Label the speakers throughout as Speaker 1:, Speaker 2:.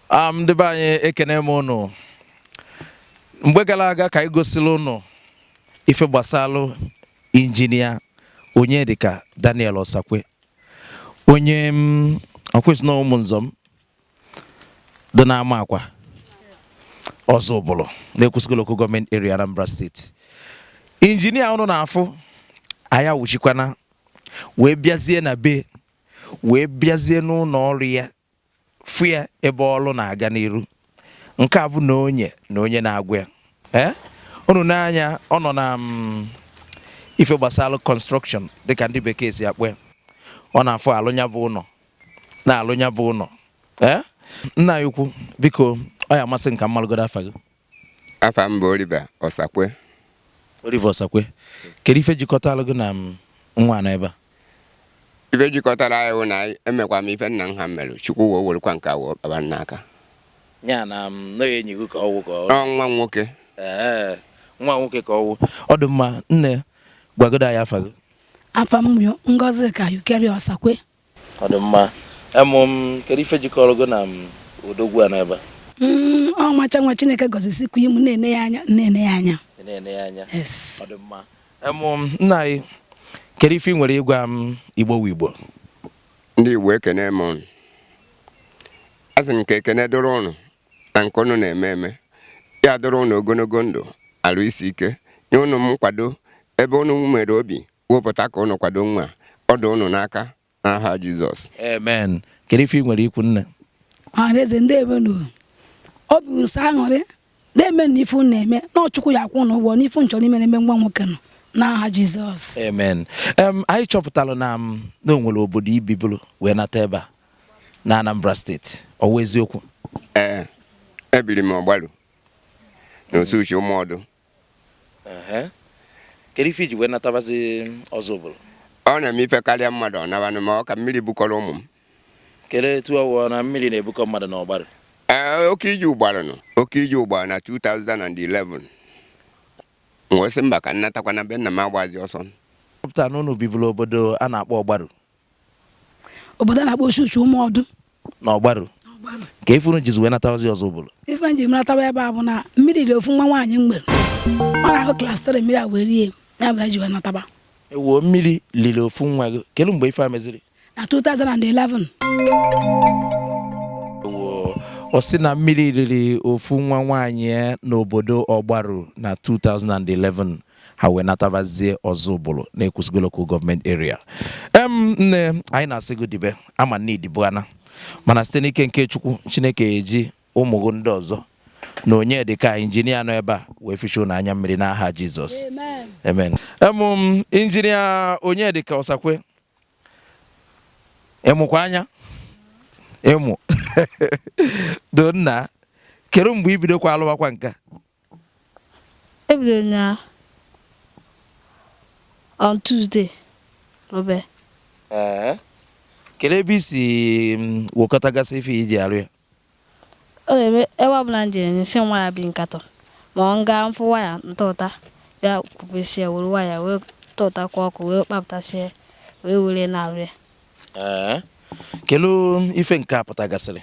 Speaker 1: am ndị be anyị ekene m ụnụ mgbe gara aga ka anyị gosiri ụnụ ife gbasalụ injinia Onyedika Daniel Osakwe onye m ọkwụsị na ụmụ nzọ m dị n'Amakwa Ọzụbụlụ na Ekwusigo local government area Anambra State injinia ụnụ na-afụ anyị awụchikwana wee bịazie na be wee bịazie n'ụnọ ọrụ ya fụ ya ebe ọrụ na-aga n'iru nke a bụ na onye na onye na-agwa ya ee unu n'anya ọ nọ na mm, ife gbasara construction dịka ndị bekee si akpọ ya ọ na-afụ alụ nya bụ ụnọ na-alụ nya bụ ụnọ ee nna anyị ukwu biko ọ ya-amasị m ka m malụgodo afa gị Afa m bụ Oliver Osakwe. Oliver Osakwe, kedu ife jikọtalụ gị na m nwa nọ ebe a? Ife jikọtalụ anyị wụ na anyị emekwa m ife nna m ha mere Chukwu wee werekwa nke a wee kpaba m n'aka. Ya na m nọghị enyi gị ka ọ wụ ka ọ Ọ nwa nwoke. Ee, nwa nwoke ka ọ wụ. Ọ dị mma, nne gwagodo anyị afa gị. Afa m bụ Ngozika Eucharia Osakwe. Ọ dị mma. Em, m, kedu ife jikọrọ gị na m, odogwu a nọ ebe a? Mm, ọmalịcha nwa Chineke gọzisikwa imu na-ene ya anya na-ene ya anya. Ị na-ene ya anya. Yes. Ọ dị mma. Em, m, nna anyị kedu ife ị nwere ịgwa ụmụ Igbo wụ Igbo? ndị igbo ekene m ụnụ asị m ka ekene dụrụ ụnụ na nke ụnụ na-eme eme ya dụrụ ụnụ ogologo ndụ arụ isi ike nye ụnụ nkwado ebe ụnụ nwere obi Wepụta ka ụnụ kwado nwa a. Ọ dị ụnụ n'aka n'aha Jizọs. Amen. Kedu ife ị nwere ikwu nne? Ọhaneze ndewonu. Obi bụ m sọ aṅụrị na-eme na ife unu na-eme na ọ Chukwu ya-akwụ ụnụ ụgwọ n'ife unu chọrọ ime na-eme nwa nwoke nọ n'aha Jizọs. Amen. Em, anyị chọpụtara na m na o nwere obodo i bibulu wee nata ebe a na Anambra State ọ wụ eziokwu Ee, ebiri m Ọgbaru na Osuche Ụmụodu. kedu ife i ji wee natabazi Ọzụbụlụ ọ na-eme ife karịa mmadụ ọ nabanụ ma ọ ka mmiri bukọrọ ụmụ m kedu etu ọ wụ na mmiri na-ebukọ mmadụ na Ọgbaru ee oke iji ahụ gbaranụ oke iji ahụ gbara na 2011 m wee sị mba ka m natakwa na be nna m agbazi ọsọ pụta na unu biburu obodo a na-akpọ ọgbaru obodo a na-akpọ Osuche Ụmụodu na Ọgbaru kee ife unu jizi wee natabazi Ọzụbụlụ ife m ji natawa ebe a bụ na mmiri riri ofu nwa nwaanyị m nwere ọ nọ na class 3 mmiri a wee rie ya mụ ji wee nataba ewuo mmiri liri ofu nwa gị kedu mgbe ife a meziri na 2011 ọ sị na mmiri riri ofu nwa nwaanyị n'obodo ọgbaru na 2011 ha wee natabazie ọzụbụlụ n'ekwusigo local gọọmenti eria em nne anyị na-asị gị dibe a ma na i dibo ana mana site n'ike nke chukwu chineke eji ụmụ gị ndị ọzọ na onyedịka injinia nọ ebe a wee fichaa na anya mmiri n'aha jizọs amen em injinia onyedịka ọsakwe ị mụkwa anya ịmụ donna kedu mgbe i bidokwa alụwakwa nke Ebidoro m ya on Tuesday rụbe. Ee. Kedu ebe i si mm, wekọtagasị ife i ji arụ ya? Ọ na-eme ebe ọbụla m jere nyụsị m waya bi nkatọ ma ọ m gaa m fụ waya m tụta bịa kwubesie were waya wee tụtakwa ọkụ wee kpapụtasie wee were na-arụ ya. Ee. Kedu ife nke a pụtagasịrị?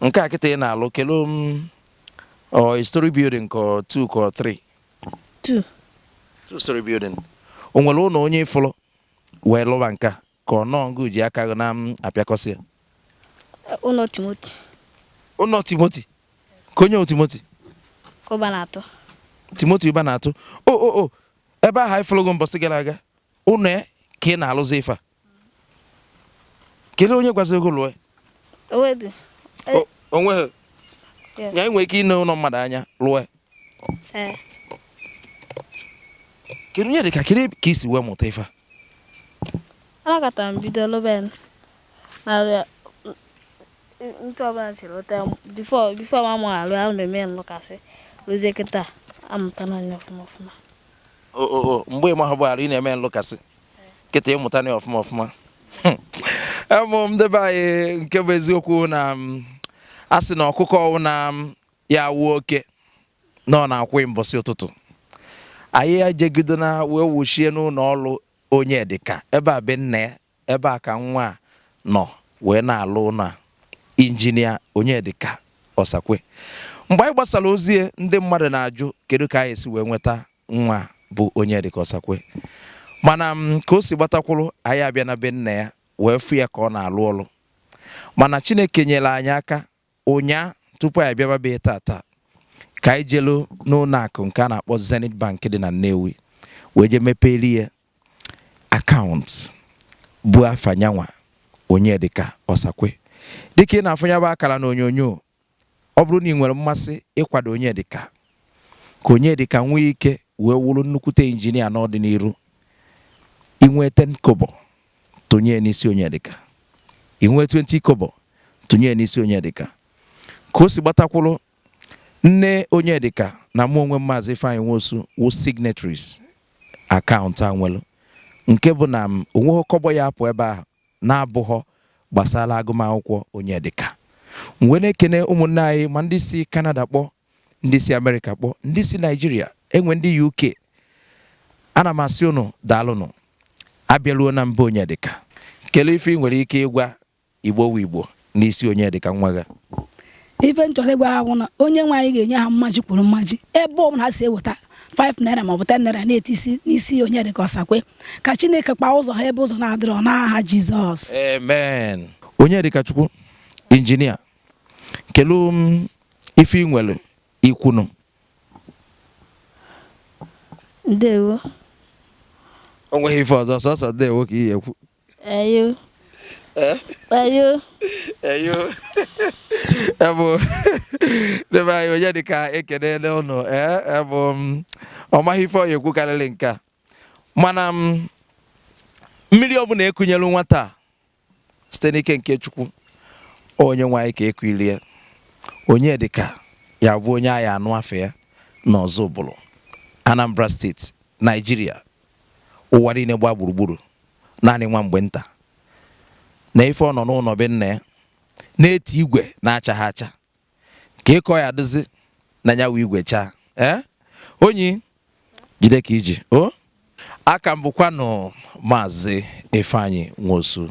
Speaker 1: nke a kịta ị na-alụ kedu ma ọ story building ka ọ two ka ọ three two two story building o nwere ụlọ onye ị fụlụ wee lụba nka ka ọ nọọ ngị ji aka gị na-apịakọsị ya ụlọ timoti ụlọ timoti ka onye timoti ụbanatụ timoti ụbanatụ o o o ebe ahụ anyị fụlụgo mbọsị gara aga ụlọ ya ka ị na-alụzi ife a kedu onye gwaziri gị lụọ o nweghị ị ya-enwe ike ịne ụlọ mmadụ anya lụọ eh. kedu onyedịka kedu ka i si wee mụta ife a alakọta m bido lụbe narịa ntụ ọbụla si lụta before before ma mụ alụ ahụ na-eme nlụkasị lụzie kịta amụtana m ya ọfụma ọfụma mgbe ị mahụbụ arụ ị na-eme nlụkasị kịta ị mụtana ọfụma ọfụma em ndị be anyị nke bụ eziokwu na mm, a sị na ọkụkọ ọwụna mm, ya-awụ oke na ọ na-akwụ mbọsị ụtụtụ anyị ejegidona wee wuchie n'ụnọ ọlụ onye dịka ebe a be nna ya ebe a ka nwa a nọ wee na-alụ ụlọ a injinia onye dịka ọsakwe mgbe anyị gbasara ozi ndị mmadụ na-ajụ kedu ka anyị si wee nweta Nwa bụ Onyedịka Ọsakwe. Mana ka o si gbatakwụrụ, anyị abịa na be nna ya wee fụ ya ka ọ na-alụ ọlụ. Mana Chineke nyere anyị aka ụnyaa tupu anyị bịaba ebe a tataa ka anyị jelu n'ụlọ akụ nke a na-akpọ Zenith Bank dị na Nnewi wee je mepeeli ya akaụntụ bụ afa nyanwa Onyedịka Ọsakwe. Dịka ị na-afụ ya bụ akara n'onyonyo, Ọ bụrụ na ị nwere mmasị ịkwado Onyedịka ka Onyedịka nwee ike wee wụrụ nnukwute injinia n'ọdịnihu, i nwee ten kobo, tụnye n'isi Onyedịka. I nwee twenty kobo, tụnye n'isi Onyedịka. Ka o si gbatakwuru nne Onyedịka na mụ onwe m Maazị Ifeanyị Nwosu wụ signatories akaụntụ a nwere nke bụ na m o nweghị kọbọ ya apụ ebe ahụ na-abụghọ gbasara agụmakwụkwọ Onyedịka. M wee na-ekene ụmụnne anyị ma ndị si Kanada kpọ, ndị si Amerịka kpọ, ndị si Naịjirịa, e nwee ndị UK. Ana m asị ụnụ daalụnụ. Abịaruo na nne Onyedịka. Kelee ife ị nwere ike ịgwa Igbo wụ Igbo. n'isi Onyedịka nwa gị ife m chọrọ ịgwa ha bụ na onye nwe anyị ga-enye ha mmaji kwuru mmaji ebe ọ bụla ha si eweta 5 naira maọbụ 10 naira na-eti n'isi Onyedịka Osakwe ka chineke kpaa ụzọ ha ebe ụzọ na-adịrọ n'aha jizọs amen Onyedịkachukwu injinia kelee ife ị nwere ikwunu ndewo o nweghị ife ọzọ sọsọ ndewo ka ị ekwu Eyo. Eh? Eyo. Eyo. Ebo. Ndị be anyị Onyedịka ekelele ụnụ eh? ebo m mm, ọ maghị ife ọ ya-ekwu karịrị nke a mana m mm, mmiri ọbụla e kunyelu nwata a site n'ike nke Chukwu Onyenweanyị ka e kulie Onyedịka ya bụ onye a ya-anụ afa ya n'Ọzụbụlụ Anambra steeti Naijiria ụwa niile gbaa gburugburu naanị nwa mgbe nta na ife ọ nọ n'ụlọ be nna ya na-eti igwe na-achaghị acha ka eko ya dịzi na ya wee igwe chaa ee eh? Onyi jide ka i ji o aka m bụkwanụ maazị Ifeanyi Nwosu